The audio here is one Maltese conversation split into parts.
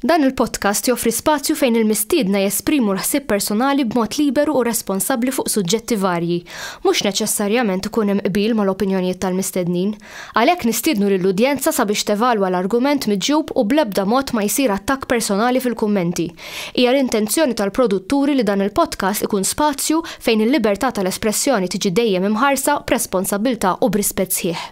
Dan il-podcast joffri spazju fejn il-mistiedna jesprimu l-ħsieb personali b'mod liberu u responsabbli fuq suġġetti varji. Mhux neċessarjament ikun hemm qbil mal-opinjonijiet tal-mistednin. Għalhekk nistiednu lill-udjenza sabiex tevalwa l-argument miġjub u bl-ebda mod ma jsir attakk personali fil-kummenti. Hija l-intenzjoni tal-produtturi li dan il-podcast ikun spazju fejn il-libertà tal-espressjoni tiġi dejjem imħarsa b'responsabbiltà u b'rispett sħiħ.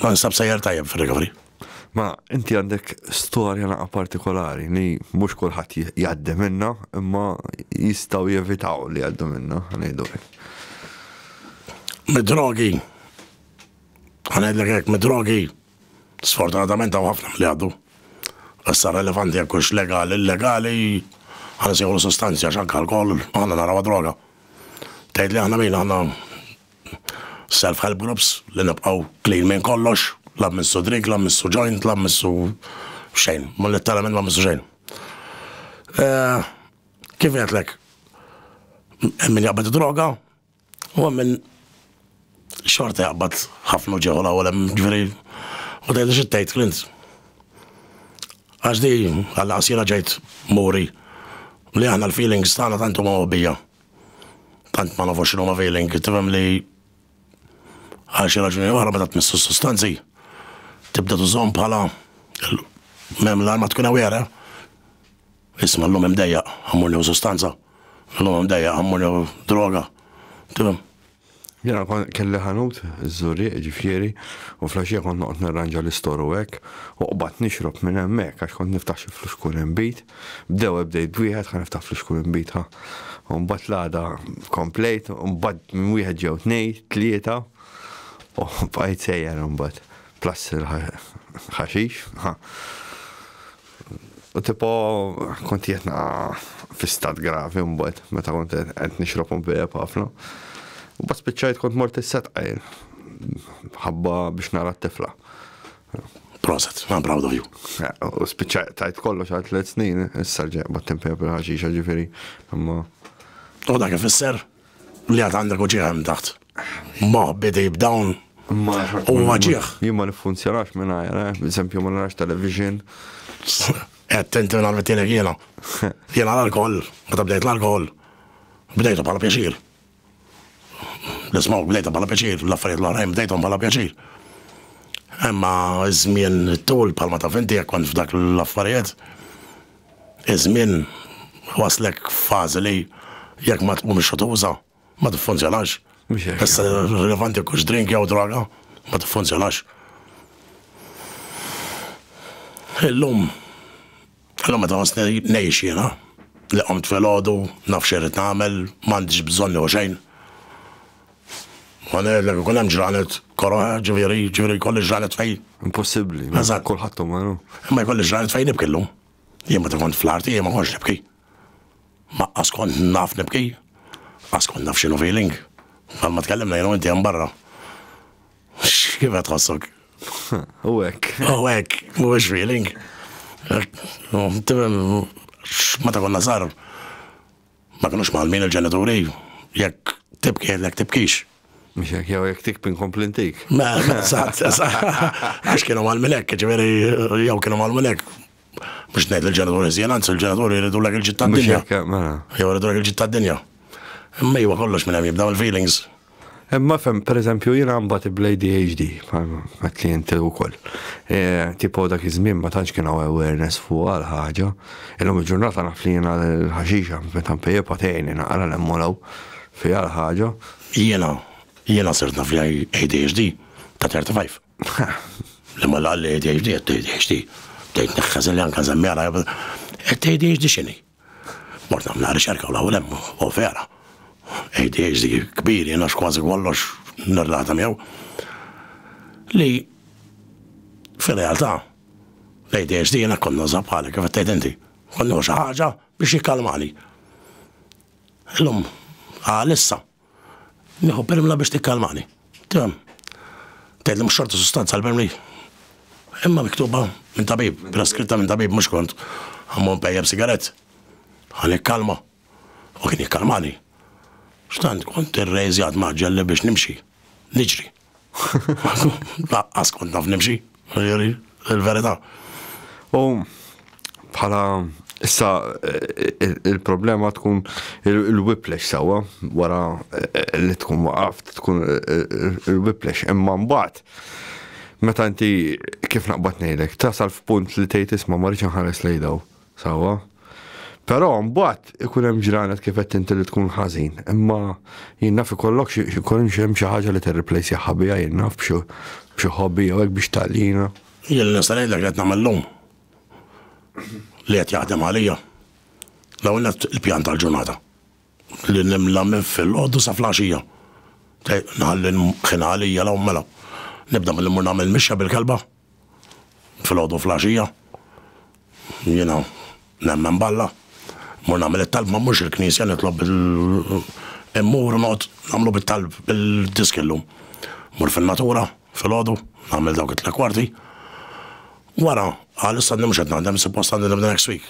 Ma nsab sejjer tajjeb fir-recovery. Ma inti għandek storja naqa partikolari li mhux kulħadd jgħaddi minna imma jistgħu jevitaw li jgħaddu minna ngħidu hekk. Mid-drogi. Ħanejdlek hekk mid-drogi. Sfortunatament hawn ħafna li għaddu. Issa relevanti jekk hux legali, illegali, ħansieħu sustanzja x'anke alkohol, aħna naraw droga. Tgħid li aħna min aħna Self help groups li nibqgħu clean minn kollox, la mmissu drink, la mmissu joint, la mmissu xejn, ma litteralment ma mmissu xejn. Kif għedtlek, hemm min jaqbad id-droga u hemm min xorta jaqbad ħafna ġieħu l-ewwel hemm ġifieri u tgħidli xi tgħid Clint. Għax di għal qasira ġejt muri li aħna l-feelings tagħna tant huma mobbija. tant ma nafux x'inhuma feeling, tifhem li għal xi raġuni oħra meta tmissu s-sustanzi tibda tużhom bħala mem l-arma tkun aware. Isma' l-lum imdejja, għammur li sustanza. L-lum imdejja, għammur li droga. Tifhem? Jiena kont kelli ħanut, iż-Żurrieq ġifieri, u flaxija kont noqgħod nirranġa l-istor u hekk, u qbadt nixrob minn hemmhekk għax kont niftaħ xi fluxkur inbid. B'dewwel bdejt b'wieħed, ħa niftaħ fluxkur inbid ħa. U mbagħad l-għada komplejt, u mbagħad minn wieħed ġew tnejn, tlieta, u bqajt sejjer imbagħad. Plus il-ħaxix, ħa. U tipo kont jetna fi stat gravi mbagħad meta kont qed nixrob u bejjeb ħafna. U bas spiċċajt kont mort is-set qajl. Ħabba biex nara t-tifla. Proset, I'm proud of you. U spiċċajt tajt kollox għal tliet snin, issa ġeq bat-tempja bil-ħaxixa ġifieri. Imma U dak ifisser? Li għad għandek u ġieħ taħt. Ma bidej b'dawn u ma ġieħ. Jien ma nifunzjonax minn għajra, eh? eżempju ma narax television. Attenti minn għal-mittinek jena. Jena l-alkohol, ma tabdejt l-alkohol. Bdejtu bħala pjaċir. L-ismaw bdejtu bħala pjaċir, l-affarijiet l-oħrajn bdejtu bħala pjaċir. Emma żmien tul bħalma taf inti jekk kont f'dak l-affarijiet, Iż-żmien iwasslek f'fażi li jekk ma tkunx qed tuża, ma tiffunzjonax. Mhux hekk. Issa rilevanti jekk hux drink jew droga, ma tiffunzjonax. Illum, illum meta nħossni ngħix jiena, li qomt filgħodu, naf x'irrid nagħmel, m'għandix bżonn jew xejn, Ma ngħidlek ikun hemm ġranet koro, eh, ġifieri, ġifieri jkolli ġranet fejn. Impossibbli. Eżatt. Kulħadd umaru. Imma jkolli ġranet fejn nibki llum. Jien meta kont fl-arti jien ma kontx nibki. Ma qas kont naf nibki. Qas kont naf x'inhu feeling. Għal ma tkellimna jien u inti hemm barra. Kif qed tħossok? U hekk. U hekk, mhuwiex feeling. Meta konna sar, Ma kinux mgħallmin il-ġenituri, jekk tibki jgħidlek jekk tibkix. Mhux hekk jew jekk tikpi nkompli ntik. Ma, eżatt, għax kienu mgħallmin hekk, ġifieri jew kienu mgħallmin hekk. Mhux ngħid il-ġenituri żjien, anzi il-ġenituri jridu lek il-ġitta d-dinja. Mela. Jew jridu lek il-ġitta d-dinja. Imma iva kollox minn hemm jibdew il-feelings. Imma fem, per eżempju, jina mbagħad ibla ADHD, għat li jinti u koll. E, tipo dak iż-żmien ma tantx kien hawn awareness fuq għal ħaġa. Illum il-ġurnata naf li jiena l-ħaxixa meta mpejjeb għatejni naqra l-emmolaw fi għal ħaġa. Jiena, jiena sirt naf li ADHD ta' 35. Li ma l-għalli ADHD, għed ADHD. Tejt neħħazen li għankan zemmi għala, għed ADHD xini. Mort nagħmel riċerka u l-ewwel hemm hu vera. ADHD kbir jien għax kważi kollox nirrelata miegħu. Li fir-realtà l-ADHD jiena kont nuża bħalek kif tgħid inti. Kont nieħu xi ħaġa biex jikkalmani. Illum għalissa Nieħu permla biex tikkalmani. Tram. Tgħid li mhux xorta sustanza l-permli. Imma miktuba minn tabib, preskritta minn tabib mhux kont. Għammu npejjem sigaret. Għan ikkalma. U kien ikkalmani. Xtant kont irrejżjat maġġelli biex nimxi. Niġri. Laqqas kont naf nimxi, ġifieri, il-verità. U bħala issa il-problema tkun il-whiplash sewwa wara li tkun waqaft tkun il-whiplash imma mbagħad meta inti kif naqbad ngħidlek tasal f'punt li tgħid isma' ma rridx inħares lejn daw. Sewwa. Però mbagħad ikun hemm ġranet kif qed inti li tkun ħażin, imma jien naf ikollok xi jkun hemm xi ħaġa li tirriplejsjaha biha jien naf b'xi b'xi hobby jew hekk biex tgħallina. Jien li nista' ngħidlek li qed nagħmel llum li qed jaħdem għalija. L-ewwel nett il-pjan tal-ġurnata li nimla minn filgħodu sa flaxija. Nħalli l-mkien għalija l-ewwel mela. Nibda billi mmur nagħmel mixja bil-kelba. Filgħodu filgħaxija jiena nemmen b'Alla, mmur nagħmel it-talba mhux il-knisja nitlob bil immur u noqgħod nagħmlu bit-talb bil-disk illum. Mmur fin-natura filgħodu nagħmel dawk it-tliet kwarti. Wara, għalissa mhux qed naħdem, suppost għandi nibda next week.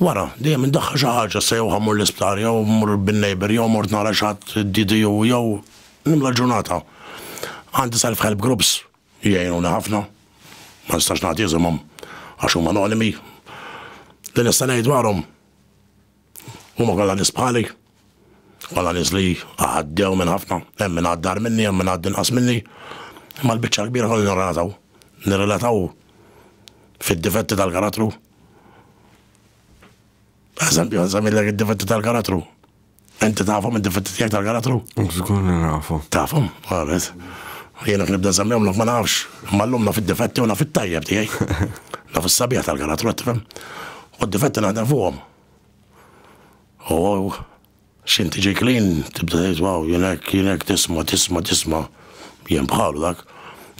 Wara, dejjem indaħħal xi ħaġa, issa jew ħa mmur l-isptar, jew mmur bin-neighbour, jew mort nara xi ħadd DDU, jew nimla l-ġurnata. Għandi self help groups li jgħinuni ħafna, ma nistax nagħti isimhom għax huma anonimi. Li nista' ngħid dwarhom, huma kollha nies bħali. Kollha nies li għaddew minn ħafna, hemm min għadda agħar minni, hemm min għadda inqas minni, imma l-biċċa l-kbira kollha nirrelataw. Nirrelataw fid-difetti tal-karattru. Eżempju, nżamillek id-difetti tal-karattru. Inti tafhom id-difetti tiegħek tal-karattru? Żgur li nafhom. Tafhom, għabet. Jiena kien nibda żammihom ma nafx, imma llum naf id-difetti u naf it-tajjeb tiegħi. Naf is-sabiħ tal-karattru qed tifhem. U d-difetti naħdem fuqhom. U hawn x'int tiġi clean tibda tgħid waw jien hekk jien hekk tisma' tisma' tisma' jien bħalu dak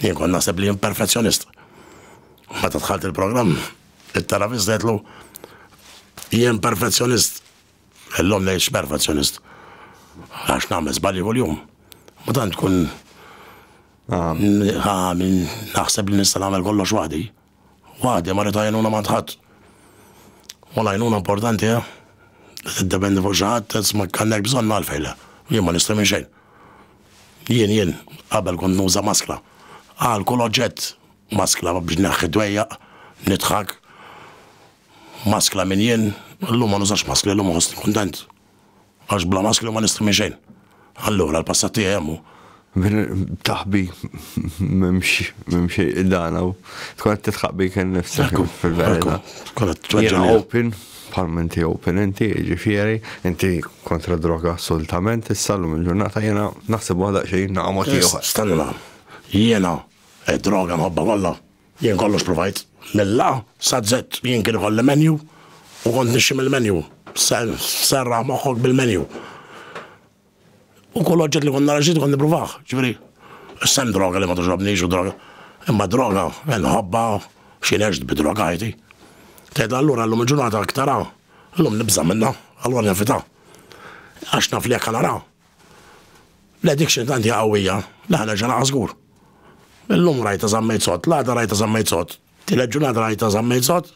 jien kont naħseb li jien perfezzjonist. Meta dħalt il-programm it-terapist għedtlu jien perfezzjonist illum ngħid x'perfezzjonist għax nagħmel żbalji kuljum. Ma tant tkun Ah. Ah, min naħseb li nista' nagħmel kollox waħdi. Waħdi ma rid għajnuna m'għand ħadd. U l-għajnuna importanti eh? Li tiddependi fuq xi ħadd qed ma kellek bżonn għalfejn le. Jien ma nista' minn xejn. Jien jien qabel kont nuża maskla. Għal kull oġġett maskla biex neħħi dwejjaq, nidħak. Maskla minn jien, illum ma nużax maskli, illum nħossni kuntent. Għax bla maskju ma nista' minn xejn. Allura l-passat tiegħi hemm hu. Taħbi m'hemm xejn idana u tkun qed titħaq bik innifsek fil-verità. Jiena open, bħalma inti open inti, ġifieri, inti kontra droga assolutament, issa llum il-ġurnata jiena naħseb waħda xejn nagħmel mod ieħor. Stenna, jiena, id-droga nħobbha kollha. Jien kollox provajt, mill-A saz-Z. Jien kien ikolli menu u kont nixxi mill-menu. Serraħ moħħok bil-menu. U kull oġġett li kont nara ġdid kont nipprovah. Ġifieri, issa hemm droga li ma toġobnix u droga. Imma droga, inħobbha, xi neġt bi droga ħajti. Tgħidha allura llum il-ġurnata aktar A, llum nibża' minnha, allura nevitha. Għax naf li jekk ħa naraha, L-addiction tant hija qawwija li ħa nerġa' naqa' żgur. Illum rajta żammejt sod, l-għada rajta żammejt sod, tielet ġurnata rajta żammejt sod,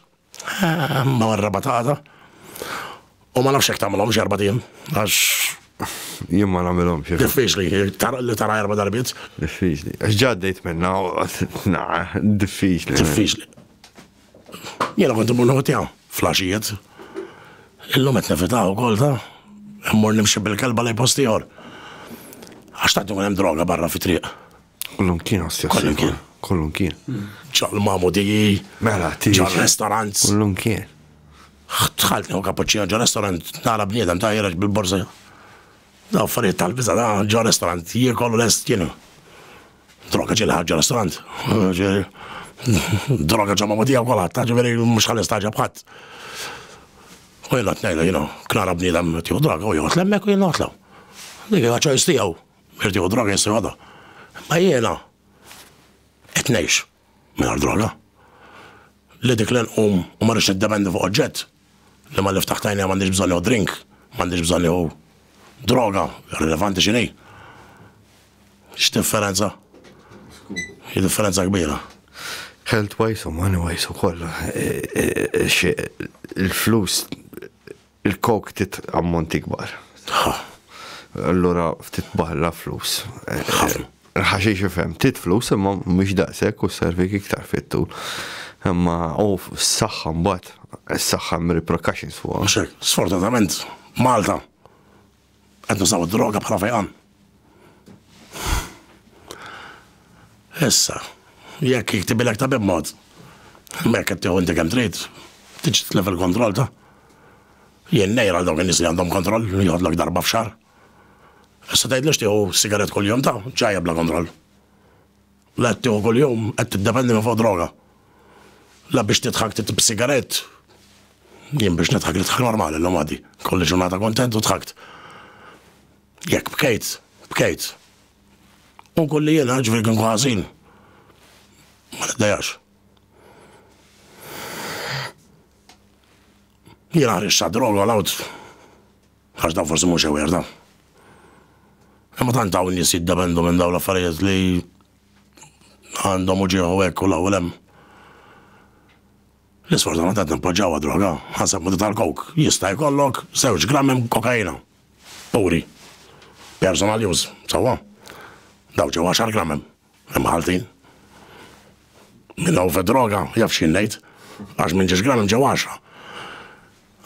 ma warraba ta' għada. U ma nafx hekk tagħmilhomx erba' tim, għax Jien ma nagħmilhomx. Diffiċli, li tara erba' darbit. Diffiċli. Għax ġaddejt minna, diffiċli. Diffiċli. Jiena kont imur nieħu tiegħu fl-għaxijiet. Illum qed nevitaw ukoll ta' immur nimxi bil-kelba lej post ieħor. Għax tant ikun hemm droga barra fit-triq. Kollum kien għastja. Kollum kien. Kollum kien. ċaql mamu diji. Mela, tiri. ċaql restaurant. Kollum kien. Tħalt neħu kapuċċina ġo restaurant, nara bniedem ta' jiraġ bil-borsa. Da' affarijiet tal-biza, da' ġo restaurant, jiekollu l-est kienu. Droga ġieli ħarġa l-istrand. Droga ġamma ma tiegħu kolħat, ta' ġifieri mhux ħalli staġab ħadd. U jien qed ngħidlu, jien knara bniedem tiegħu droga u joqgħod lemmek u jien noqgħodlu. Dik hija ċojs tiegħu. Irtiegħu droga jissi għada. Ma jiena qed ngħix. Mingħajr droga. Li dik li nqum u ma rridx niddependi fuq oġġett, li malli ftaħt għajnejja m'għandix bżonn nieħu drink, m'għandix bżonn nieħu droga, irrilevanti x'inhi. X'differenza? Hi differenza kbira. Health wise u money wise ukoll eh, eh, eh, il-flus Il-coke ftit ammonti kbar. Ħa. Allura ftit barra flus. Ħafna. Ħaxix ifhem, tit flus imma mhux daqshekk u servik iktar fit-tul. Imma u s-saħħa mbagħad, is-saħħa hemm repercussions fuqha. Sfortunatament, Malta Qed nużaw id-droga bħala fejqan. Issa, jekk jiktibilek ta' b'mod, mek qed tieħu inti kemm trid, tiġi tlef il-kontroll ta' jien nejra dawk in-nies li għandhom kontroll li jħodlok darba f'xar. Issa tgħidlux tieħu sigaret kuljum ta' ġajja bla kontroll. La tieħu kuljum qed tiddependi minn fuq droga. La biex tidħak titib sigarett. Jien biex nidħak nidħak normali llum għadi. Kolli ġurnata kuntent u dħakt. Jekk bkejt, bkejt. U nkun li jiena ġifieri kien ħażin. Ma niddejax. Jiena ħriġt droga l-għawd. Għax dan forsi mhux aware dan. Imma tant hawn nies jiddependu minn dawn l-affarijiet li għandhom u ġieħu hekk u l-ewwel hemm. L-isfortunatament nippoġġawha droga, ħaseb mudu tal-kok, jista' jkollok żewġ grammi kokaina. Puri. Personal use, sewwa. Daw ġew 10 grammi. Maltin. Min hu fid-droga jaf x'jien ngħid, għax minn ġiex gram imġew għaxra.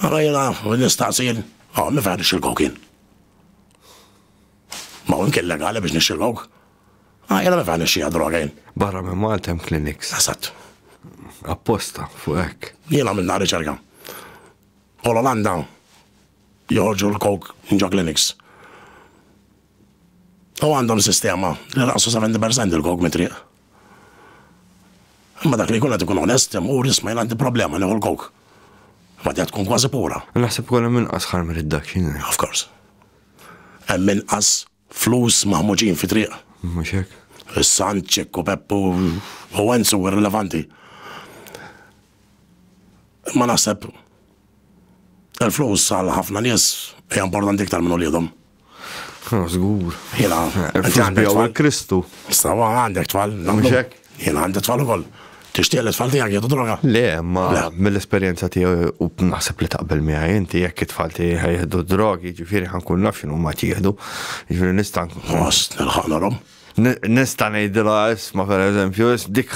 Ara jiena nistaqsil, oh, min fejn nixxil kok jien? Ma hu imkien legali biex nixxil kok. Ah, jiena min fejn nixxija droga jien. Barra minn Malta hemm kliniks. Esatt. Apposta, fuq hekk. Jiena minn nhar riċerka. U l-Olanda joħorġu l-kok minn ġo kliniks. U għandhom sistema li naqsu 70% il-kok mit-triq. Imma dak li jkun qed ikun onest hemm u jisma' jien għandi problema nieħu l-kok. Ma tgħid tkun kważi pura. Naħseb ukoll hemm inqas ħarm irid dak xi jgħid. Of course. Hemm inqas flus maħmuġin fi triq. Mhux hekk. Is-Sant, Ċikku, Peppu u Enzu irrilevanti. Imma naħseb il-flus għal ħafna nies hija importanti iktar minn uliedhom. Zgur. Jena. Għandek tfal Kristu. Stawa għandek tfal. Mxek. Jena għandek tfal ukoll. Tixtieq li tfal tiegħek jieħdu droga? Le, ma mill-esperjenza tiegħi u naħseb li taqbel miegħi inti jekk it-tfal tiegħi jieħdu drogi, ġifieri ħankun naf x'inhu ma jieħdu. Ġifieri nista' Ħoss nilħaq Nista' ngħidilha isma' pereżempju, dik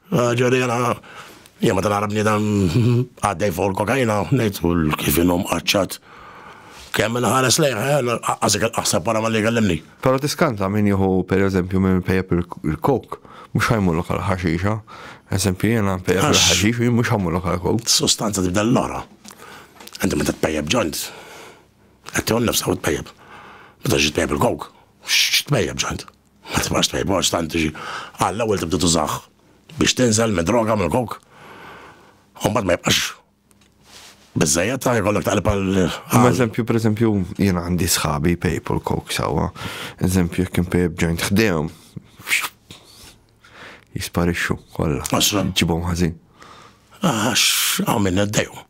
Ħaġa li jiena, jien meta nara bniedem għaddej fuq il-kokaina, ngħid u kif inhu mqaċċat. Kemm inħares lejh, anqas dik il-qaħsa wara malli jkellimni. Però tiskanta min jieħu pereżempju min ipejjep il-coke, mhux ħa jmurlok għall-ħaxixa. Eżempju jiena npejjep il-ħaxix u jien mhux ħa mmurlok għall-coke. Is-sustanza tibda lil oħra. Inti meta tpejjep joint, qed tieħu nnifsek u tpejjep. Meta tiġi tpejjep il-coke, x'tpejjep joint? Qatt ma xtaqt mort x'tant xi Alla ewwel tibda tużah biex tinżel mid-droga mill-coke u mbagħad ma jibqax biżżejjed ta' jkollok taqleb għal. Eżempju, pereżempju, jien għandi sħabi pejpu l-coke sewwa. Eżempju, jekk impejb ġojnt ħdejhom jisparixxu kollha. Ġibhom ħażin. Għax għamilna d-dejhom.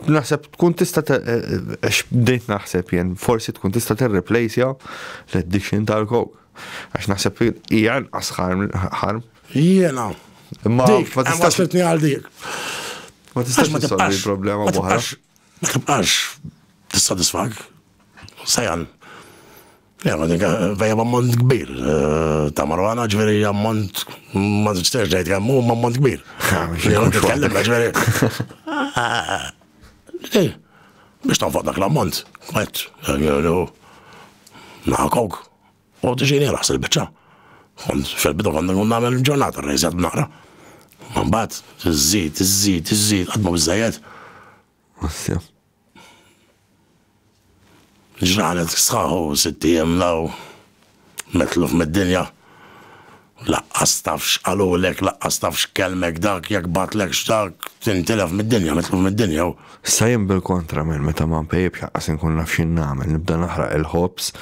Naħseb tkun tista' eh, eh, għax bdejt naħseb jien, forsi tkun tista' tirreplejsja l-addiction tal-kok. Għax naħseb hija nqas ħarm. Jiena. Ma tistax li għal dik. Ma tistax ma tibqax il-problema ma tibqax. Ma tibqax tissodisfak. Sajan. Vejja b'ammont kbir ta' marwana, ġveri ammont, ma t-istax dajt għammu, ma ammont kbir. Biex tanfaq dak l-ammont, għet, naħakok, u t-ġini raħs il-bicċa. Kont fil-bidu kont nkun nagħmel ġurnata rejżet naqra. Mbagħad iżżid, iżżid, iżżid, qatt ma biżejjed. Ġranet sħaħu sitt ijiem law, metluf mid-dinja. Laqqas taf x'qalulek, laqqas taf x'kellmek dak, jekk bagħtlekx dak, tintilef mid-dinja, metluf mid-dinja hu. Issa jien bil-kontra minn meta ma npejjipx laqqas inkun naf x'in nagħmel, nibda naħraq il-ħobż,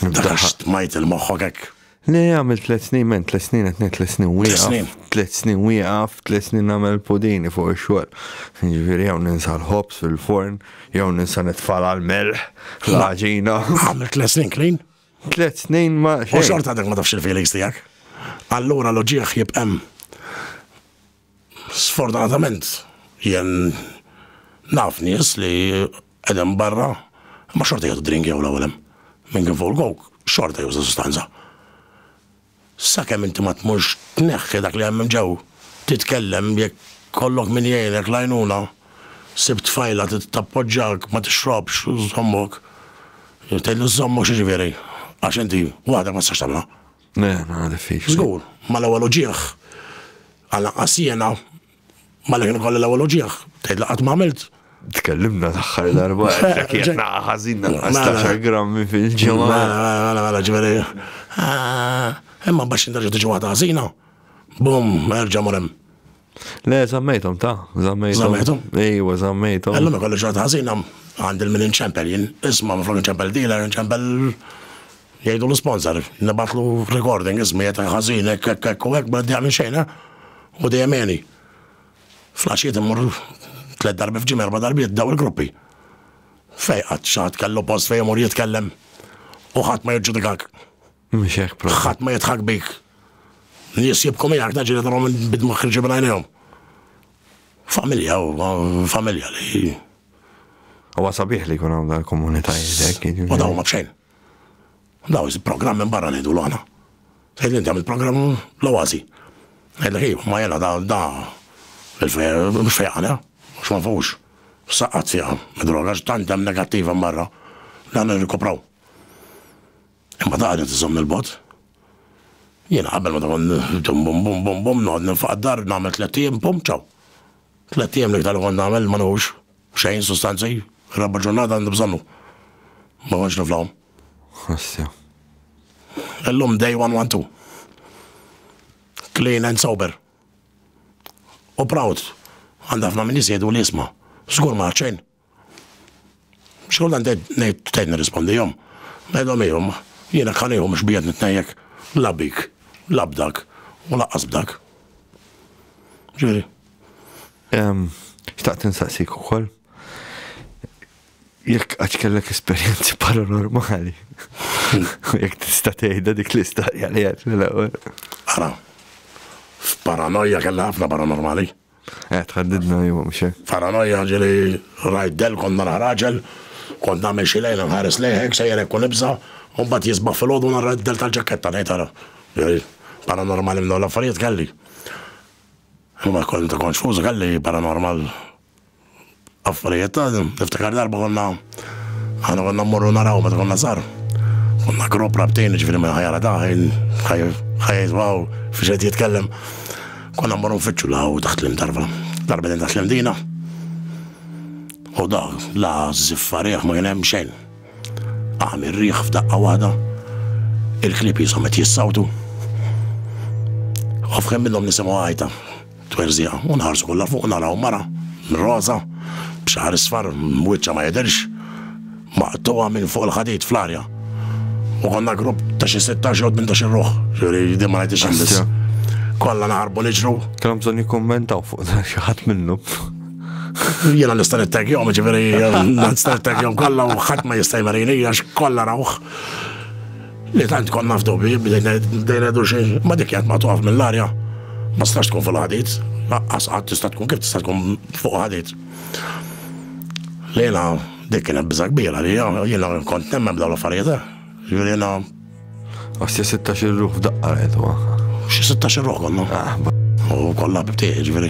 nibda. Dak stmajt il-moħħok hekk. Le, għamil tlet snin, men tlet snin għetni tlet snin wieqaf. Tlet snin wieqaf, tlet snin għamil pudini fuq il-xol. Ġviri, għaw ninsa l-ħobs fil-forn, għaw ninsa nitfala l-melħ, l-ħagġina. Għamil tlet snin klin? Tlet snin ma. U xorta dak ma tafx il-feelings tijak. Allura l-ġieħ jibqem. Sfortunatament jien naf nies li qegħdin barra imma xorta jieħdu drink jew l-ewwel hemm. Min kien fuq il-coke xorta juża sustanza. Sakemm inti ma tmurx tneħħi dak li hemm hemm ġew, titkellem jekk kollok min jgħinek l-għajnuna, ssib tfajla tappoġġak, ma tixrobx, żommok. Tgħidlu żommok x'jiġifieri? Għax inti waħdek ma tistax tagħmilha. Le, ma diffiċli. Żgur, ma l-ewwel uġigħ. Għal anqas jiena ma li kien kolli l-ewwel uġigħ, tgħid li qatt ma għamilt. Tkellimna l-aħħar darba qed naqa' ħażin naqa' 16 grammi fil-ġimgħa. Mela, mela, mela, ġifieri. Imma baxx inderġa' tiġi waħda ħażina. Bum, erġa' mur hemm. Le, zammejtom, ta' zammejtom. Zammejtom? Ejwa, zammejtom. Għallum ikolli ġurnata ħażina għandil minn inċempel jien. Isma, ma flok inċempel dealer, inċempel jgħidu l-sponsor, nibatlu recording, ismi jgħet ħazin, ekk, ekk, ekk, u ekk, ma d-dija minn xejna, eh? u dija meni. Flaxiet immur tlet darbi fġim erba darbiet daw il-gruppi. Fejqat, xaħat kellu post fej immur jitkellem, u ħat ma jġudikak. Mhux hekk propju. Ħadd ma jidħak bik. Nies jibku miegħek naġġieli tagħhom bidma ħriġi minn għajnejhom. Familja, familja li. Huwa sabiħ li jkun hawn dal-komunitajiet hekk. U jiġifieri. dawn ma bxejn. Daw il-programm minn barra ngħidu l-għana. Sejt inti għamil programm l-oazi. Għedlek iju, ma jena da, da, il-fejr, mux fejqana, mux ma fux. Saqqat fija, id-droga, tant hemm negattiva marra, dan nirkupraw. Imma ta' għadha tiżomm il-bot. Jiena qabel ma tkun dum bum bum bum bum noqgħod ninfaq d-dar nagħmel tliet ijiem pum ċaw. Tliet ijiem l-iktar li kont nagħmel ma nħux xejn sustanzi, raba' ġurnata għandi bżonnu. Ma kontx niflahom. Ħassja. Illum day one one two. Clean and sober. U proud. Għandha ħafna min jisjedu li jisma'. Żgur ma xejn. Xkull għandha ngħid tgħid nirrispondihom. Ngħidhom ejhom, jiena kħanejhom mhux bijet nitnejjek la bik, la b'dak u laqqas b'dak. Ġifieri. Xtaqt insaqsik ukoll jekk għax kellek esperjenzi paranormali. Jekk tista' tgħidha dik l-istorja li għad l-ewwel. Ara, f'paranoja kellha ħafna paranormali. Eh, tħaddidna jum, mhux hekk. Paranoja ġieli rajt del kont nara raġel, kont nagħmel xi lejla nħares lejħek sejjer hekk u nibża' u mbagħad jisbaħ filgħodu nara d-del tal-ġaketta ngħid ara. Paranormali minn dawn l-affarijiet kelli. Imma kont konxfuż kelli paranormal. Affarijiet ta' niftakar darba konna aħna konna mmorru naraw meta konna żgħar. Konna grupp rabtejn ġifieri minn ħajja ta' ħajja jiswaw fiex qed jitkellem. Konna mmorru nfittxu la u taħt l-imdarba. Darba din taħt l-imdina. U da la ziffa riħ ma kien hemm xejn. Għam ir-riħ f'daqqa waħda. Il-klib jisom qed jissawtu. U f'kemm minnhom nisimgħu għajta. Twerżiha u nħarsu kollha fuq u naraw mara roża b'xagħar isfar, wiċċha ma jidhirx, maqtugħa minn fuq il-ħadid fl-arja. U konna grupp ta' xi sittax jew tmintax-il ruħ, jiġifieri din ma ngħidhiex jien biss. Kollha naħarbu niġru. Kellhom bżonn jikkummentaw fuq dan xi ħadd minnhom. Jiena nista' nittagjhom, jiġifieri nista' nittagjhom kollha u ħadd ma jista' jmarini għax kollha rawh. Li tant konna f'dubji bdejna ngħidu xi ma dik jgħid ma toqgħod mill-arja. Ma stax tkun fuq ħadid, laqqas qatt tista' tkun kif tista' tkun fuq ħadid. Lejla dik kienet biża' kbira li jiena kont nemmen b'dawn l-affarijiet. Eh. Jiena. Għas 16 il-ruħ f'daqqa rajtu. Xi 16 il-ruħ konna. Ah, U kollha bibtiq, ġifieri.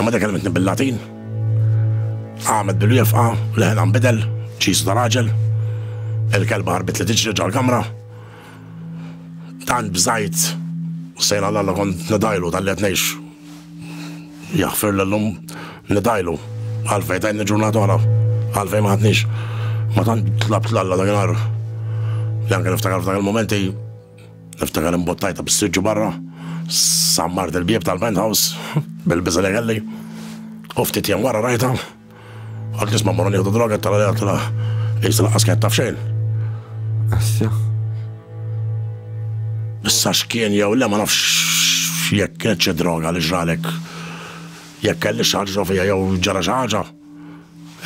Imma dik kellmitni bil-Latin. Qamet bil-wieqfa, leħinha nbidel, ċisu ta' raġel. Il-kelba ħarbit li tiġri ġal-kamra. Tant bżajt, sejna l-alla kont nidajlu tal-li qed ngħix. Jaħfir l-lum nidajlu. Għalfej tajni ġurnata oħra, għalfej ma ħadniex. Ma tant tlabt l-alla dakinhar. Li anke niftakar f'dak il-momenti Niftakar imbottajta bis-siġġu barra, sammart il-bieb tal-penthouse bil-biża li kelli. U ftit jien wara rajta, għad nisma' morru nieħdu droga tal għalija tal jisa laqqas kien taf xejn. Assja. Issa x'kien jew le ma nafx jekk kienet xi droga li ġralek. Jekk kelli xi ħaġa fija jew ġara xi ħaġa.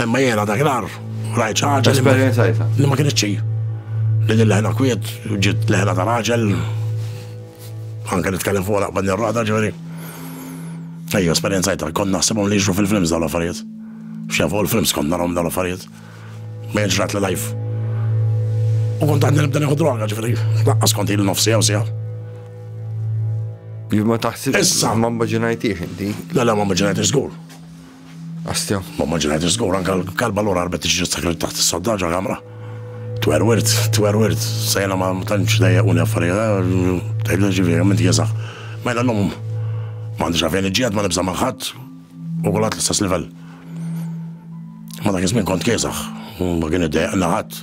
Imma jena dak l-ar, rajt ħaġa. Esperienzajta. Li ma kienx xejn. Li din leħna kwiet, ġiet leħna ta' raġel. Anke nitkellem fuq laqbad nirrada ġifieri. Ejja, esperienzajta, kont naħsibhom li jixru fil-films dal-affarijiet. X'jaf fuq il-films kont narhom dal-affarijiet. Ma jiġrat li life. U kont għandni nibda nieħu droga ġifieri. Laqqas kont il nofsi jew sija. Ma taħsibx. Issa. Ma mbaġinajtiex inti. La la ma mbaġinajtiex żgur. Astja. Ma maġinajt żgur anke l-kalba l-ora arbet tiġi sakrit taħt is-soddaġa kamra. Twerwirt, twerwirt, sejna ma tantx dejjaquni affarijiet, tgħidlu ġifieri minn tjeżaħ. Mela l-lum ma għandix għafejn iġġiegħed ma nibża' ma' ħadd u kulħadd l-istess livell. Ma dak iż-żmien kont kieżaħ, ma kien iddejjaqna ħadd.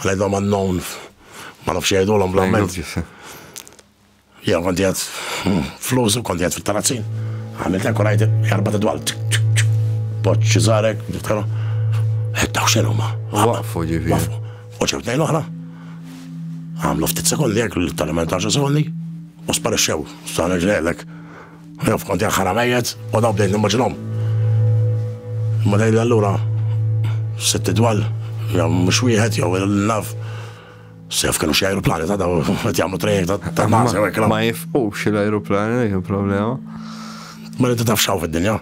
Ngħidhom unknown, ma nafx jgħidulhom bl-Alment. Jew konti għad flus u konti għad fit-tarazzin. Għamilt hekk u rajt erba' tidwal. Poċ ċiżarek, niftaru. Eddaw xenu ma. Waqfu ġifi. U ġew tnejn oħra. Għamlu ftit sekondi hekk, tal-ementarġa sekondi. U sparixxew, sa' nġrelek. Naf kont jaħħar għamejjet u daw bdejt nimmaġinhom. Ma dejli allura sitt idwal, jew mhux wieħed jew il-naf. Sef kienu xi ajruplani ta' daw qed jagħmlu trejek ta' nasa jew hekk. Ma jifqux l-ajruplani dik il-problema. Ma li taf xaw fid-dinja.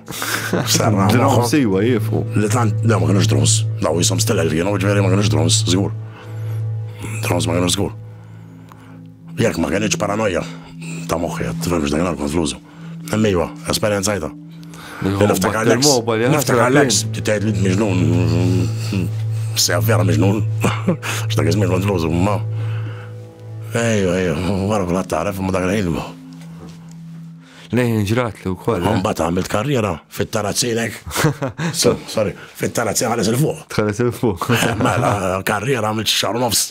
Sarra. Drones siwa jifqu. Li tant daw ma kienux drones. Daw jisom stilel kienu ġveri ma kienux drones, żgur. Drones ma kienux żgur. Jekk ma kienx paranoja ta' moħħi, tifhem x'dan kien konflużu. Emmejwa, esperjenzajta. Niftakar l-ex. Niftakar l-ex. Tgħid li miġnun. Se vera miġnun. X'dak iżmin konflużu, ma. Ejju, ejju, wara kull taref, ma dak il-ħin. Lejn ġrat li wkoll. Eh? Mbagħad għamilt karriera fit-tarazzinek. Sorry, fit-tarazzinek ħares il-fuq. Ħares il-fuq. Mela, karriera għamilt xar nofs.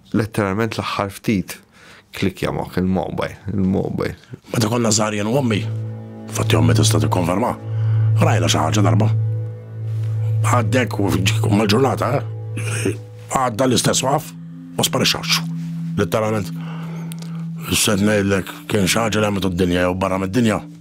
Letteralment l-aħħar ftit klik jamok il-mobile, il-mobile. Meta konna żgħarjen u ommi, fatti ommi tista' tikkonferma, rajna xi ħaġa darba. Għaddek u mal-ġurnata, eh, għadda l-istess waqaf u sparixxax. Letteralment. Sed ngħidlek kien xi ħaġa li għamitu d-dinja jew barra mid-dinja.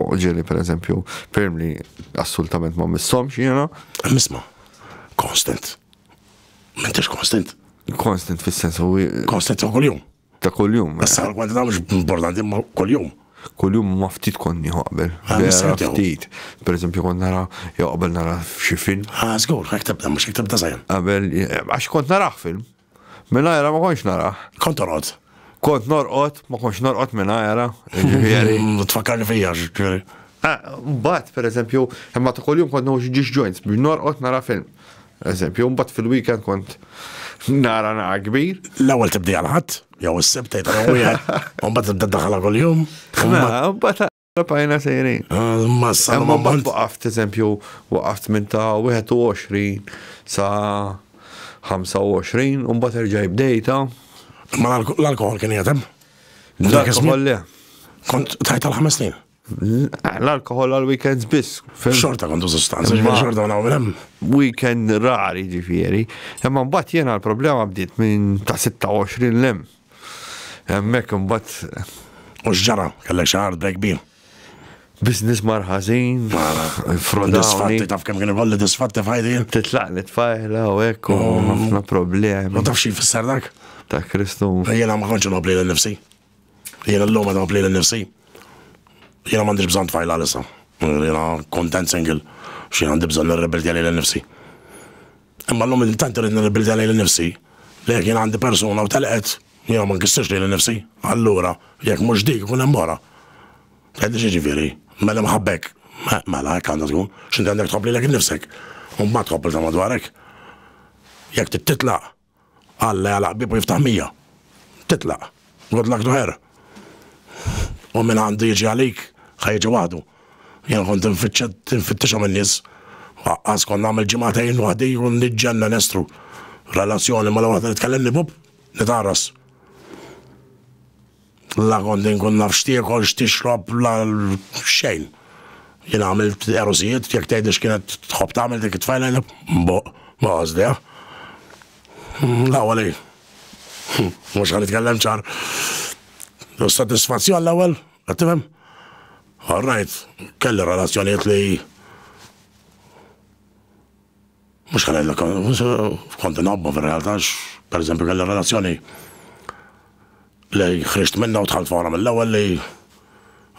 Oġeli per eżempju, ferm li assolutament ma missom xiena. Misma, konstant. Mentix konstant. Konstant fil-sens u. Konstant ta' kol-jum. Ta' kol-jum. Issa eh. l-kwantità mux importanti ma kol-jum. Kol-jum ma ftit konni qabel. Ah, ftit. Per eżempju, kont nara, jew qabel nara xi film. Ah, zgur, għek tibda, mux għek tibda zaħjan. Qabel, eh, għax kont nara film. Mingħajrha ma kontx narah. Kont torqod? Kont norqod, ma kontx norqod mingħajrha. Ġifieri. Mm, tfakkarni fija, ġifieri. Ah, mbagħad, pereżempju, imma ta' kuljum kont nħux ġiex joints biex norqod nara film. Eżempju, mbagħad fil-weekend kont nara nara kbir. L-ewwel tibdi għal ħadd, jew is-sibt tgħid wieħed, u mbagħad tibda daħla kuljum. Mela, mbagħad Tapajna sejrin. Għal-massa. Ma bat waqaft, eżempju, waqaft minn ta' 21 sa' 25, un bat erġaj bdejta. Ma l-alkohol kien jgħetem? L-alkohol le. Kont tajt għal 5 snin? L-alkohol għal weekends biss. Xorta kontu sostanza, ġifiri xorta għuna għunem. Weekend rari ġifiri. Imma mbatt jena l-problema bdiet minn ta' 26 l-lem. Hemmhekk imbagħad. U x'ġara? Kellek xi art bej kbir? Business mar ħażin. Mara. Disfatti taf kemm kien ikolli disfatti f'ħajti. Titlaq li tfajla u hekk u mm. ħafna problemi. U taf xi fisser dak? Ta' Kristu. Jiena ma kontx nobli lil nifsi. Jiena llum qed nobli lil nifsi. Jiena m'għandix bżonn tfajla lissa. Jiena kontent single. Xi għandi bżonn nirrebeldi lil nifsi. Imma llum li tant irrid nirribilta lejli nnifsi, li jekk jien għandi persuna u telqet, jiena ma nkissirx lili nnifsi. Allura, jekk mhux dik, ikun hemm oħra. Tgħidli x'jiġifieri? Mela imħabba hekk. Eh, mela, hekk għandha tkun. X'inti għandek tħobb lilek innifsek. U mbagħad tħobb lil ta' madwarek. Jekk trid titlaq, Alla jagħlaq bieb u jiftaħ mija. Titlaq. Good luck to her. U min għandu jiġi għalik, ħa jiġi waħdu. Jien kont tinfittixhom in-nies. Waqqas kont nagħmel ġimagħtejn waħdi u niġġenna nestru. Relazzjoni ma' waħda li tkellimni bub, nitgħarras. La kont inkun naf x'tiekol, x'tixrob, la xejn. Jien għamilt erużijiet, jekk tgħidli x'kienet tħobb tagħmel dik it-tfajla jien nboqq ma għożdiha. L-ewwel hi. Mhux ħa nitkellem ċar. Sodisfazzjon l-ewwel, qed tifhem? All right, kelli relazzjonijiet li Mhux ħa ngħidlek kont inħobbha fir-realtà għax pereżempju kelli relazzjoni li ħriġt minnha u dħalt fora mill-ewwel li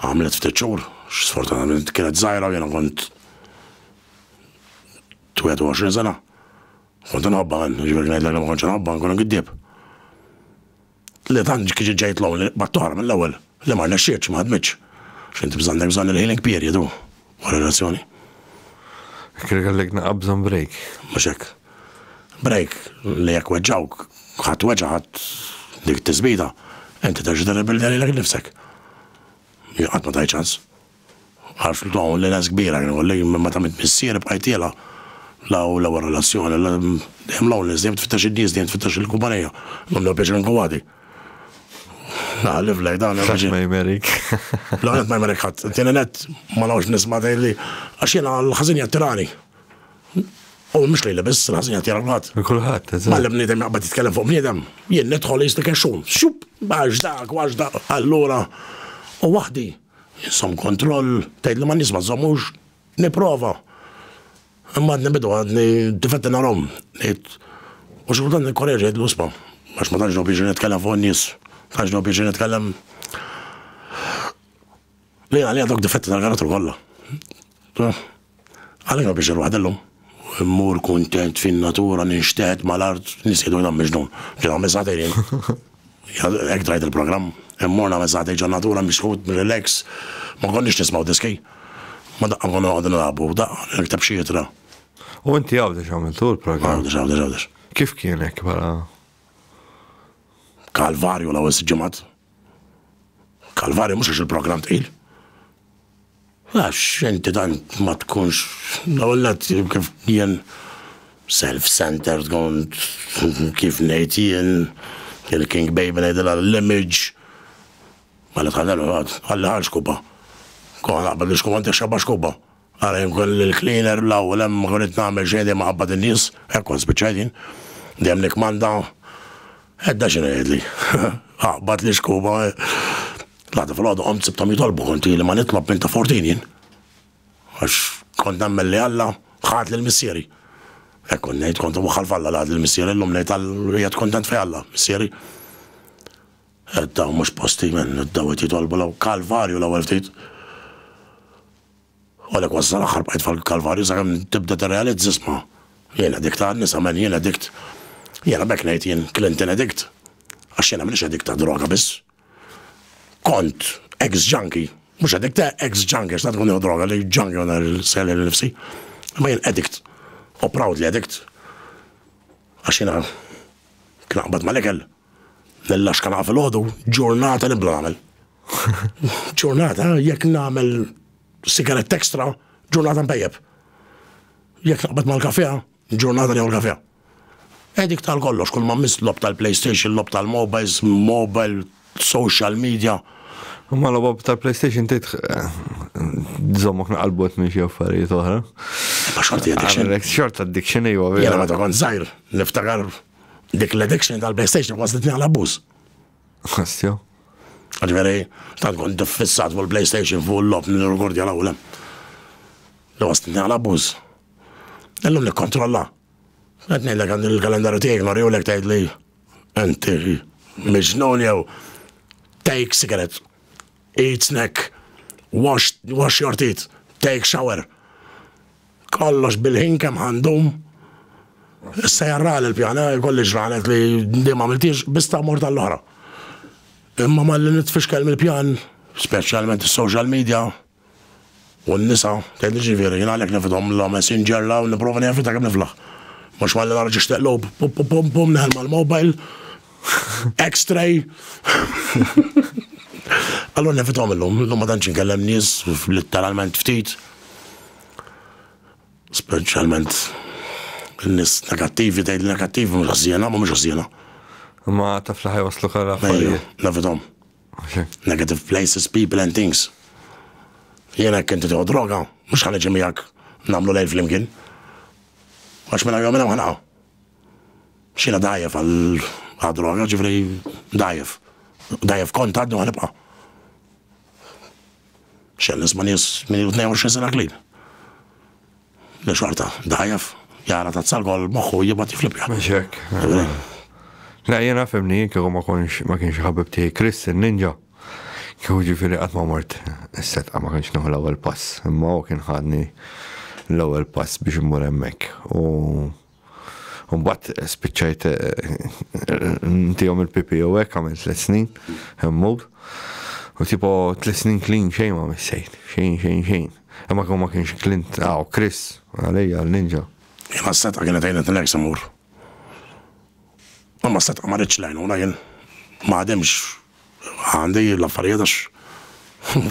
għamlet ftit xhur, sfortunatament kienet żgħira jiena kont 21 sena. Kont inħobbha għan, ġifieri ngħidlek li ma kontx inħobbha nkun giddieb. Le tant kiġi ġejt l-ewwel li qbadt oħra mill-ewwel. Le ma rnexxietx, ma ħadmitx. X'int bżonn, għandek bżonn il-healing period hu ma' relazzjoni. Kien ikollek naqgħa bżonn break. Mhux hekk. Break li jekk weġġgħuk, ħadt weġgħa, ħadt dik it-tiżbida, inti terġa' tirribilja lilek innifsek. Jien qatt ma tajt ċans. Għarftu hawn l-għeles kbira kien ikolli, minn meta miet missieri bqajtilha l-ewwel relazzjoni. Dejjem l-homeless, dejjem tfittex in-nies, dejjem tfittex il-kumpanija. Għamlu pjaċir anke wagħdi. Naħliflek dan. Ħadd ma jmerik. L-ewwel nett ma jmerik ħadd. It-tieni nett ma nafx nisma' tgħidli għax jiena l-ħażin jattirani. U mhux lejli biss, l-ħażin jattira kulħadd. Kulħadd, eżatt. Malla bniedem jaqbad jitkellem fuq bniedem, jien nidħol jisni kexxun. Xup, għax dak, għax dak. Allura, u waħdi. Iżżomm kontroll, tgħidli ma nies ma żżommux, nipprova. Imma għadni bidu għadni difetti narhom, ngħid. U xi kultant nikkoreġi ngħid l-uspa, għax ma tantx nħobb jiġri nitkellem fuq in-nies, tantx nħobb jiġri nitkellem Lejn għalija dawk difetti tal-karattru kollha. Għalija pjaċir waħda llum. Immur kuntent fin-natura, ninxteħet mal-art, nisqiet u nagħmel x'nun. Ġiet nagħmel sagħtejn jien. Hekk tgħid il-programm. Immur nagħmel sagħtejn ġon-natura misħut, relax. Ma konniex nismgħu diski. Ma daqqa nkunu noqogħdu nilagħbu, daqqa nikteb xi ittra. U inti Għawdex għamiltu l-programm? Għawdex, Għawdex, Għawdex. Kif kien hekk bħala? Kalvarju l-ewwel siġġimat. Kalvarju mhux għax il-programm tqil. Għax inti tant ma tkunx, l-ewwel nett kif jien self-centered kont, kif ngħid jien, il-king baby ngħidilha l-image, mela tħallilha tgħad, ħalliha għal xkuba. Kont naqbad l-ixkuba inti xxabbha xkuba. Ara jien kont il-cleaner l-ewwel hemm ma konitx nagħmel xejn dejjem inqabbad in-nies, hekk kont spiċċajt jien. Dejjem nikkmanda, Edda x'inhu jgħidli? Aqbad l-ixkuba. L-għada fil-għodu għomt sibtom jitolbu konti li ma nitlob minn ta' fortin jien. Għax kont nemmen li Alla ħad lil missieri. Hekk kont ngħid kont waħħal f'Alla li ħad lil missieri llum ngħid għal kontent fi Alla, missieri. Qed daw mhux posti men, daw qed jitolbu law kalvarju l-ewwel ftit. Għalek wassal aħħar bqajt fil-kalvarju sakemm tibda tirrealizza sma. Jiena dik ta' nisa men jiena dikt. Jiena bekk ngħid jien Clinton edikt. Għax jiena m'iniex edikt ta' droga biss. Kont ex junkie, mhux addict, ta' eh, ex junkie, x'ta' tkun jew droga li junkie għana l-sel l-nifsi. Ma jien addict, u proudly addict. Għax jiena kien aqbad mal-ekel, l-lax kan fil-ħodu, ġurnata nibla nagħmel. Ġurnata jekk nagħmel sigarett ekstra, ġurnata mpejjeb. Jekk naqbad mal-kafea, Ġurnata li hawn kafè. Edict għal kollox, kull ma mmiss logħob tal-PlayStation, logħob tal-mobiles, mobile, social media. Imma logħob tal-PlayStation tgħid żommok naqalbot minn xi affarijiet oħra. Ma xorti addiction. Xort addiction ejwa. Jena meta kont żgħir, niftakar dik l-addiction tal-PlayStation kważi titni għal abbuż. Ħastja. Ġveri, tant kont diffissat fuq il-PlayStation fuq l-lob nirgordja l-awlem. Li kważi titni għal abbuż. Illum nikkontrolla. Qed ngħidlek għandi l-kalendarju tiegħi norjulek tgħidli enti miġnun jew take cigarettes, eat snack, wash, wash your teeth, take shower. Kollox bil-ħin kemm għandhom. Issa jarra l-pjana, kolli ġranet li dim għamiltiex, bista mort għall-oħra. Imma ma li nitfixkel mill-pjan, specialment il-social media, U n-nisa, tgħid jiġifieri, jien għalhekk nefidhom l-għomes, jinġerraw u nipprova nevita kemm niflaħ. Mhux malli nara ġiex teqlub, pum pum pum pum, neħel mal-mobile, X-ray. Allura nefidhom illum, illum ma tantx inkellem nies, litteralment ftit. Speċjalment n-nies negattivi, tgħid negattivi mhux ħażiena, mhumiex ħażiena. Ma taf li ħajwaslu kara. Nefidhom. Negative places, people and things. Jiena jekk inti tieħu droga, mhux ħa niġi miegħek nagħmlu lejl flimkien. Għax minn hawn minn hawn ħanaqgħu. X'jiena dajjef għal droga, ġifri dajjef. Dajjef kont għaddu ħanibqa'. Xell nisma' nies minn 22 sena klin. Li xorta, dajaf, jara tazza gol moħħu jibgħat jiflipja. Mhux hekk. La jiena fimni kieku ma konx ma kienx ħabib tiegħi Chris in-ninja. Kieku ġifieri qatt ma mort is-setqa ma kienx nieħu l-ewwel pass, imma hu kien ħadni l-ewwel pass biex immur hemmhekk. U U mbagħad spiċċajt ntihom il-pipi u hekk għamil tliet snin hemmhog. U tipo tliet snin clean xejn ma missejt, xejn xejn xejn. Imma kemm ma kienx Clint, aw Chris, għalija l-ninja. Jena s-seta kienet għajnet l-ek samur. Ma s-seta ma rridx lajnuna jien. Ma għademx Għandi l-affarijiet għax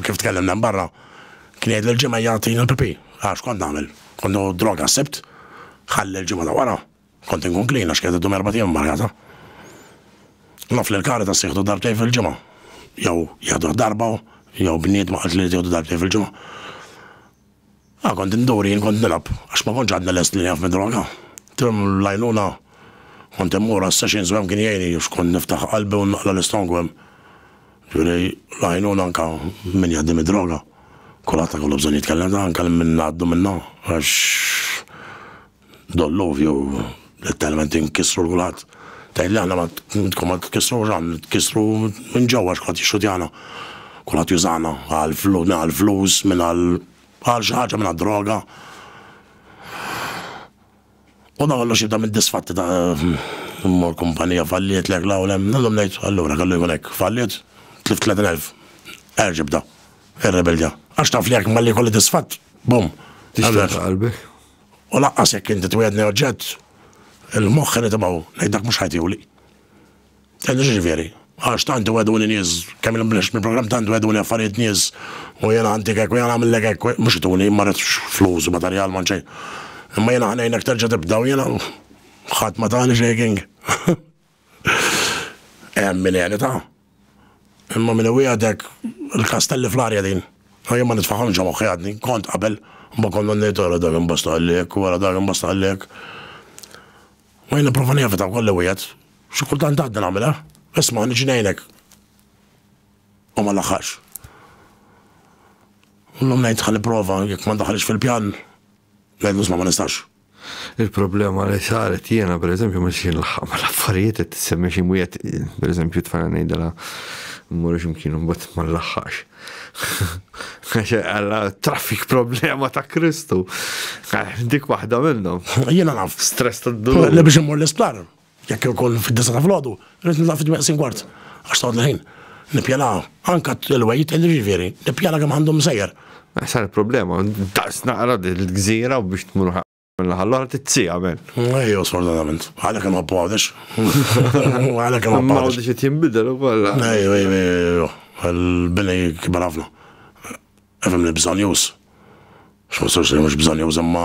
kif tkellimna hemm barra kien jgħidli l-ġimgħa jagħtini l-pipì. Għax kont nagħmel? Kont nieħu droga s-Sibt, ħalli l-ġimgħa ta' wara kont inkun klin għax kienet iddum erbat ijiem marjata. Naf li l-Caritas jieħdu darbtejn fil-ġimgħa. Jew jieħduh darba jew bniedma qaltli li tieħdu darbtejn fil-ġimgħa. Ah, kont indur jien kont nilgħab għax ma kontx għadni lest li nieqaf mid-droga. Tul l-għajnuna kont immur għas-sessions u hemm kien jgħinni għax kont niftaħ qalbi u naqla' l-istongu hemm. Ġifieri l-għajnuna anke min jgħaddi mid-droga kulħadd ikollu bżonn jitkellem, anke min ngħaddu minnha għax Dolluvju, letteralment inkissru l-kulħadd. Tgħidli aħna ma tkun ma tkissrux għan, tkissru minn ġewwa x'kulħadd jixxutjana. Kulħadd jużana għal flus, għal flus, minn għal għal xi ħaġa minn droga. U dan kollox jibda mid-disfatti ta' mor kumpanija falliet lek law lem, nagħmlu ngħid allura kellu jkun hekk. Falliet, tlift 30,000. Erġa' bda. Ir-rebelja. Għax taf li jekk malli jkolli disfatt, bum. Tixtieq qalbek. U lanqas jekk inti twiegħdni oġġett, il-moħħ irid imgħu ngħid dak mhux ħajtiuli. Tgħidli x'jiġifieri? Għax tant iwegħduni nies, kemm ilhom b'nixx mill-programm tant wegħduni affarijiet nies u jiena għantik hekk u jiena nagħmillek hekk, mhux ituni, ma ridx flus u materjal m'għand xejn. Imma jiena ħa ngħinek terġa' tibda u jiena ħadd ma tani xejking. Hemm min jegħlitha. Imma min iwiegħdek il-kastelli fl-arja din. U jien ma nitfagħhomx ġo moħħi għadni, kont qabel, imma kont noqgħod ngħid ara dak imbosta qalli hekk u ara dak imbosta qalli hekk. U jien nipprova nevita wkoll li wiegħed. Xi kultant għadni nagħmilha. Isma' niġi ngħinek. U ma nlaħħaqx. Illum ngħid ħa nipprova jekk ma ndaħħalx fil-pjan, ngħidlu isma' ma nistax. Il-problema li saret jiena, per eżempju, ma xi nlaħħaq ma l-affarijiet qed tissemmi xi mwiet, per eżempju, tfajna ngħidilha mmur x'imkien imbagħad ma nlaħħaqx. Għax għalla traffic problema ta' Kristu. Dik waħda minnhom. Jiena naf. Stress ta' d-dur. Le biex immur l-isptar. Jekk hi wkoll fid-disgħa ta' filgħodu, rrid nidħol fit-tmeqsim kwart, għax tgħodd l-ħin. Nippjana anke l-way it, jiġifieri, nippjana kemm għandu msejjer. Sa l-problema, daqs naqra din il-gżira u biex tmur mill-naħa l-oħra trid siegħa men. Ejjew sfortunatament. Għalhekk inħobbu Għawdex. Għalhekk inħobbu Għawdex. Għawdex qed jinbidel ukoll. Ejjew, ejjew, ejjew. Il-bini kibar ħafna. Efhem li bżonn jus. X'ma sorsi mhux bżonn jus imma.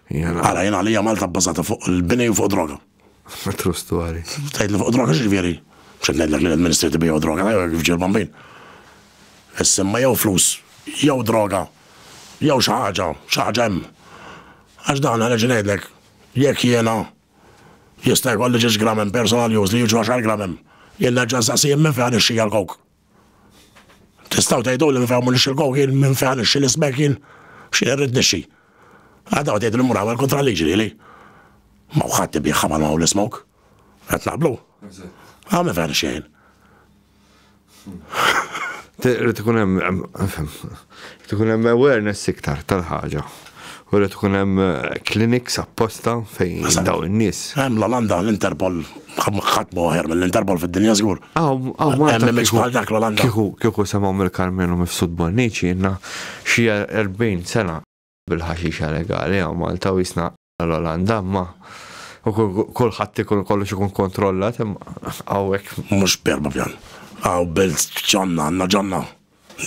Għala, jien għalija Malta bbażata fuq il-bini u fuq droga. True story. Tgħidli fuq droga x'ġifieri? X'qed ngħidlek li l-Ministri tibiju droga, jew kif ġie l-bambin. Is-simma jew flus, jew droga, jew xi ħaġa, xi ħaġa hemm. Għax dan għaliex ngħidlek, jekk jiena jista' jkolli ġiex gram hemm personal use li jiġu għaxar gram hemm. Jien nerġa' nsaqsi jien minn fejn ħad ixxija l-kowk. Tistaw tgħidu li nfehmu li xilkow kien minn fejn nixxi li smek kien xi irrid nixxi. Għadaw tgħidu li mura għal kontra liġi li li. Ma wħadd ibiħħa ma nagħmlu l-ismok. Qed naqblu. Għam minn fejn nixxi Rrid ikun hemm Irid ikun hemm awareness iktar tal-ħaġa u irid ikun hemm clinics apposta fejn dawn in-nies. Hemm l-Olanda, l-Interpol, ħadd mhu aħjar mill-Interpol fid-dinja żgur. Hawn Malta. Hemm image bħal dak l-Olanda. Kieku semgħu mill-Karmenu Mifsud Bonnici ilna xi 40 sena bil-ħaxixa legali hawn Malta u qisna l-Olanda imma u kulħadd ikun kollox ikun kontrollat imma hawnhekk. Mhux berba pjan. Għaw belt ġonna, għandna ġonna.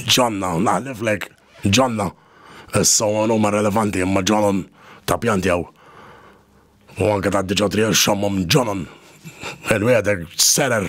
Ġonna, naħliflek, ġonna. Issa huma relevanti imma ġonon ta' pjanti hawn. U anke ta' diġà trija xammhom ġonon. Il-wieħed serer.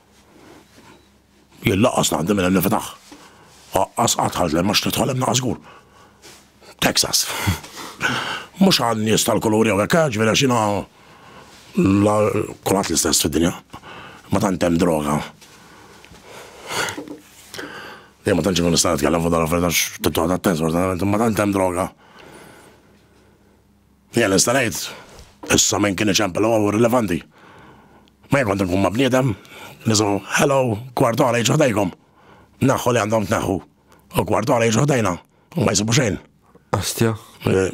Jien laqqas naqdem minn hemm niftaħ. Aqqas qatt ħadd lema x'tidħol hemm naqas żgur. Texas. Mhux għal nies tal-kulur jew hekk, eh, ġifieri għax jiena kulħadd l-istess fid-dinja. Ma tant hemm droga. Jien ma tantx ikun nista' nitkellem fuq dan affarijiet għax tibqa' attent, ma tant hemm droga. Jien nista' ngħid, issa minn kien iċempel huwa mhu rilevanti. Ma jien kont inkun ma' bniedem, nisimgħu hello, kwart oħra jiġu ħdejkom. Naħħu li għandhom tneħħu. U kwart oħra jiġu ħdejna u ma jsibu xejn. Astja. Eh,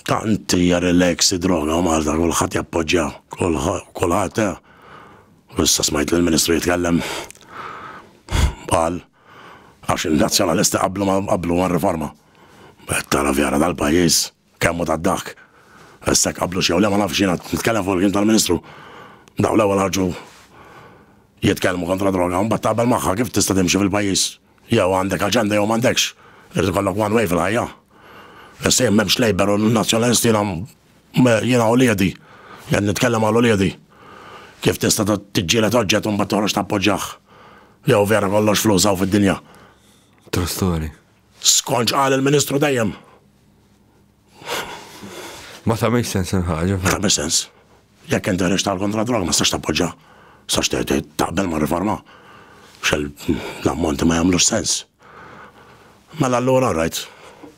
tant hija relax id-droga u Malta kulħadd jappoġġja, kulħadd eh. Issa smajt lill-Ministru jitkellem. Qal Għax il-Nazzjonalisti qablu ma qablu mar-riforma. Qed tara vjara dal-pajjiż, kemm hu tad-daħk. Issa jekk qablux jew le ma nafx, jiena nitkellem fuq il-klim tal-Ministru. Dawn l-ewwel ħarġu jitkellmu kontra d-droga u mbagħad taqbel magħha, kif tista' timxi fil-pajjiż? Jew għandek aġenda jew m'għandekx. Irid ikollok one way fil-ħajja. Issa jien m'hemmx Labour u Nazzjonalisti jiena Jiena uliedi, qed nitkellem għal uliedi. Kif tista' tiġġieled oġġett u mbagħad toħroġ tappoġġjah? Jew vera kollox flus hawn fid-dinja? True story. Skont x'qal il-Ministru dejjem. Ma tagħmilx sens il-ħaġa. Ma tagħmilx sens. Jekk inti ħriġt tal kontra droga ma tistax tappoġġa. Sax taqbel ma' riforma. Xel l-ammonti ma jagħmlux sens. Mela allura rajt.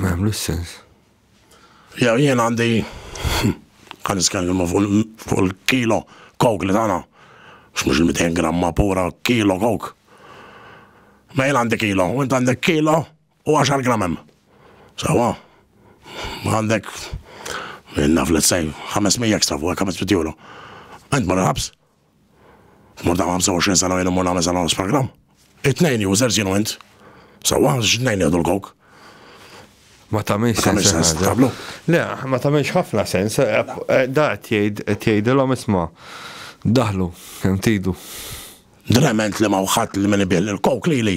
Ma jagħmlux sens. Jew jien għandi kan niskellmu fuq il-kilo kok li tagħna. X'mhux il-200 gramma pura kilo kok. Ma jien għandi kilo, u int għandek kilo u 10 gram hemm. Sawa? Ma għandek naf let's say 500 ekstra fuq 500 euro. Int mara ħabs, Mur dam 25 sena ilu mur nagħmel sena u nofs programm. It-tnejn users jien u int. Sewwa għax it-tnejn nieħdu l-coke. Ma tagħmilx Tagħmilx sens, sens, tablu. Le, ma tagħmilx ħafna sens. eh, eh, Da qed jgħid qed jgħidilhom isma' daħlu kemm tidu. Drement li ma wħadd li min ibih il-coke lili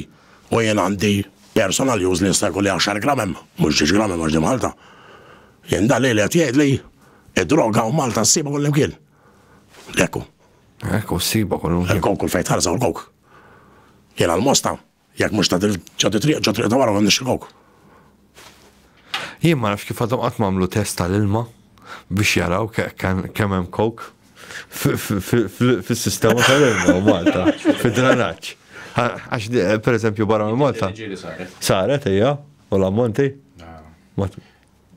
u jien għandi personal use li jista' jkun li 10 gram hemm, mhux 10 gram hemm għax di Malta. Jien dan li qed jgħidli id-droga u Malta ssibha kullimkien. Lekku. Lekku, s-siba kollu. Lekku, kull fejt ħarza u l-kok. Jena l-mosta, jek mux ta' ġoddi triq, ġoddi triq ta' wara għandix il-kok. Jien ma nafx kif għadhom qatt mamlu test tal-ilma biex jaraw kemm hemm kok fis-sistema tal-ilma Malta, fid-dranaġġ. Għax per eżempju barra Malta. Saret, ejja, u l-ammonti.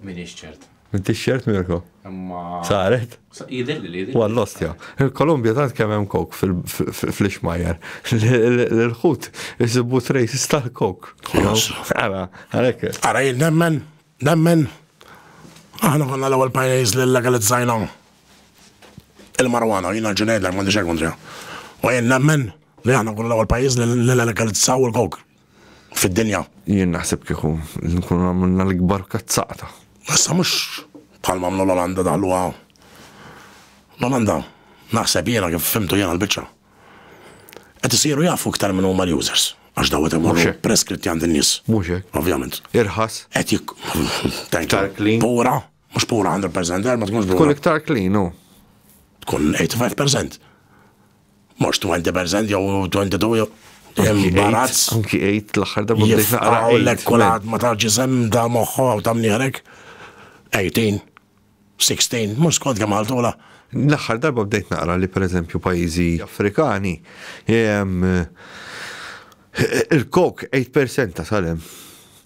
Minix ċert. Minti ċert Mirko? Imma. Saret? Jidilli li jidilli. Għal lost ja. Il-Kolumbja tant kemm hemm kok fl-ixmajer. L-ħut jisibu trejs istal kok. Ara, għalek. Ara jil nemmen, nemmen. Aħna konna l-ewwel pajjiż li legalizzajna il-marwana, jina ġunejdlek ma nixek kontra. U jil nemmen li aħna konna l-ewwel pajjiż li legalizzaw il-kok. fid-dinja. Jien naħseb kieku nkunu għamilna l-ikbar kazzata. Issa mhux bħal mamlu l-Olanda daħluha. L-Olanda naħseb jiena kif fimtu jiena l-biċċa. Qed isiru jafu iktar minn huma l-users. Għax daw qed imorru preskritti għand in-nies. Mhux hekk. Ovvjament. Irħas. Qed jik. Iktar clean. Pura. Mhux pura 100% ma tkunx pura. Tkun iktar clean hu. Tkun 85%. Mhux 20% jew 22 jew imbarazz. Anki 8 l-aħħar darba bdejt naqra. Għawlek kulħadd ma tafx isem ta' moħħu għaw ta' mnieħrek. 18, 16, mhux skont kemm għaltula. L-aħħar darba bdejt naqra li pereżempju pajjiżi Afrikani Il-kok 8% ta' salem.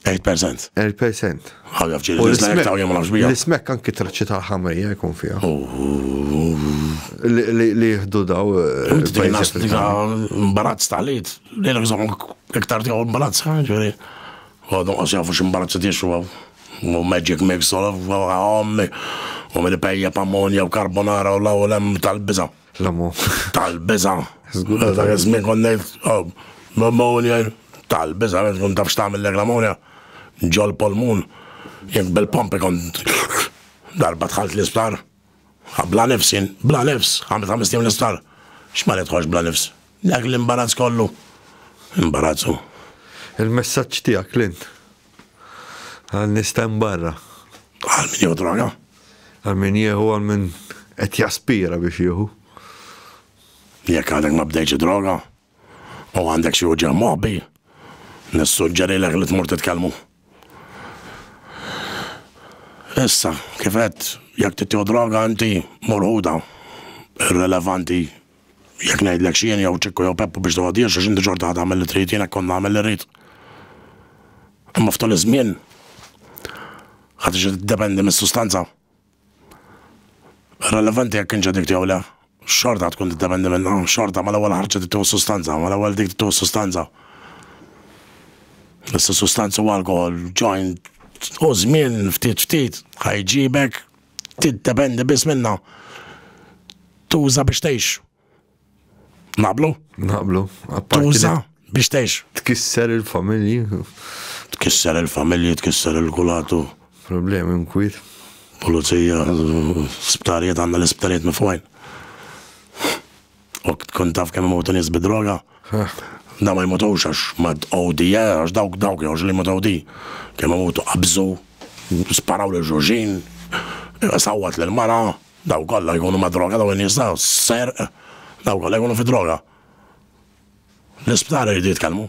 8%? 8%. Għaw jaf ġiri, l-ismek ta' jom nafx bija. L-ismek anki traċċi tal-ħamrija jkun fija. Li jihdu daw. Tbinas tika mbarazz tal-id. Li l-gżom iktar tika mbarazz ġiri. Għadu għas jafu ximbarazz t-tixu għaw. U magic mix, għom, u mil-pejja, pammonja, u karbonara, u law, u lem tal-biza. L-amu. Tal-biza. Zgur. Dak iż-żmien konnejt, oh, pneumonia, tal-biza, għed kun tafx tagħmel l-pneumonia, ġol polmun, jek bil-pompi kont darba tħalt l-isptar, bla nifsin, bla nifs, għamil ta' mistim l-isptar, xma li tħoġ bla nifs, dak l-imbarazz kollu, imbarazzu. Il-messaġġ tiegħek, Clint. Għal nies ta' barra. Għal min jieħu droga. Għal min jieħu għal min qed jaspira biex jieħu. Jekk għadek ma bdejx droga u għandek xi uġeħ moħbi, nissuġġeri l li tmur titkellmu. Issa, kifet, jekk tittiħu droga inti morħuda, irrelevanti Jekk ngħidlek x'jien jew Ċikku jew Peppu biex tgħoddiex għax inti xorta ħa tagħmel li trid, jien hekk kont nagħmel li rrid. Imma f'tul iż-żmien ħa tiġi tiddependi mis-sustanza. Irrelevanti jekk kienx addict jew le, xorta tkun tiddependi minnha, xorta mal-ewwel ħarġet tittuħ is-sustanza, mal-ewwel dik tittuħ is-sustanza. Issa sustanza u alkohol, joint, u żmien ftit ftit ħajġibek tiddependi biss minna tuża biex tgħix. Naqblu? Naqblu. Tuża biex tgħix. Tkisser il-familji. Tkisser il-familji, tkisser il-kulatu. Problemi mkwit. Pulizija, sptarijiet għandna l-isptarijiet mifwajn. Ok, tkun taf kemm imutu nies bid-droga? Da ma jmutux għax ma OD, eh, għax dawk dawk jgħux li jmut OD. Kemm imutu qabżu, sparaw lil xulxin, sawwat lil mara, daw kollha jkunu ma' droga daw in-nies daw, serq, daw kollha jkunu fi droga. L-isptar iridu jitkellmu.